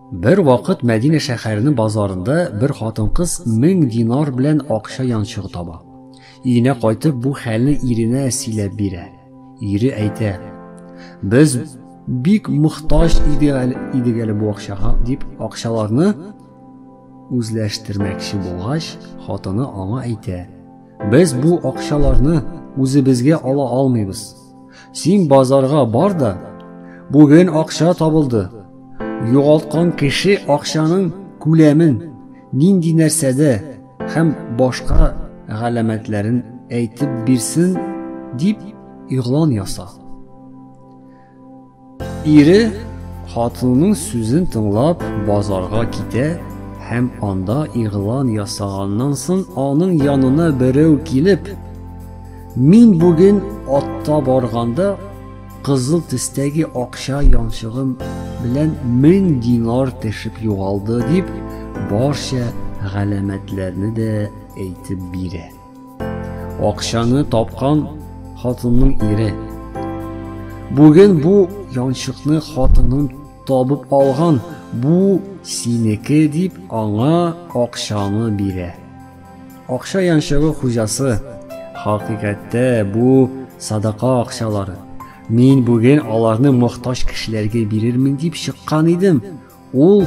Бер вакыт Мәдинә шәһәренең базарында бер хатын-кыз 1000 динар белән акча янчыгы таба. Өенә кайтып бу хәлне иренә сөйләп бирә. Ире әйтә: "Без бик мохтаҗ идек әле бу акчага" дип акчаларны үзләштермәкче булгач, хатыны аңа әйтә: Без бу акчаларны үзебезгә ала алмыйбыз. Син базарга бар да, бүген акча табылды. Югалткан кеше акчаның күләмен, нинди нәрсәдә һәм башка галәмәтләрен әйтеп бирсен дип игълан яса. Ире хатынының сүзен тыңлап базарга китә һәм анда игълан ясаганнан соң аның янына берәү килеп, Мин бүген атта барганда кызыл төстәге акча янчыгым белән мең динар тешеп югалды, дип барча галәмәтләрне дә әйтеп бирә. Акчаны тапкан хатынның ире. Бүген бу янчыкны хатының табып алган, бу синеке дип аңа акчаны бирә. Акча янчыгы хуҗасы, хакыйкатьтә бу садака акчалары. Мин бүген аларны мохтаҗ кешеләргә бирермен дип чыккан идем. Ул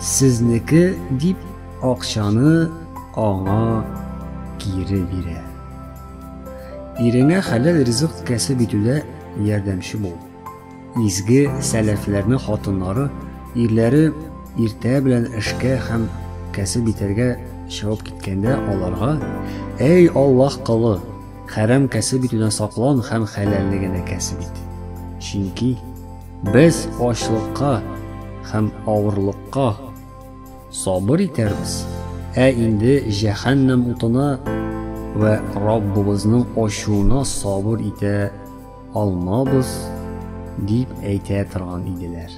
сезнеке дип акчаны аңа кире бирә. Иреңә хәләл ризык кәсеп итүдә ярдәмче бул. Изге сәләфләрне хатыннары, ирләре иртә белән эшкә һәм кәсеп итәргә чыгып киткәндә аларга, Әй Аллаһ колы, хәрам кәсеп итүдән саклан һәм хәләлне генә кәсеп ит. Чөнки Без ачлыкка һәм авырлыкка сабыр итәрбез, ә инде җәһәннәм утына вә Раббыбызның ачуына сабыр итә алмабыз, дип әйтә торган иделәр.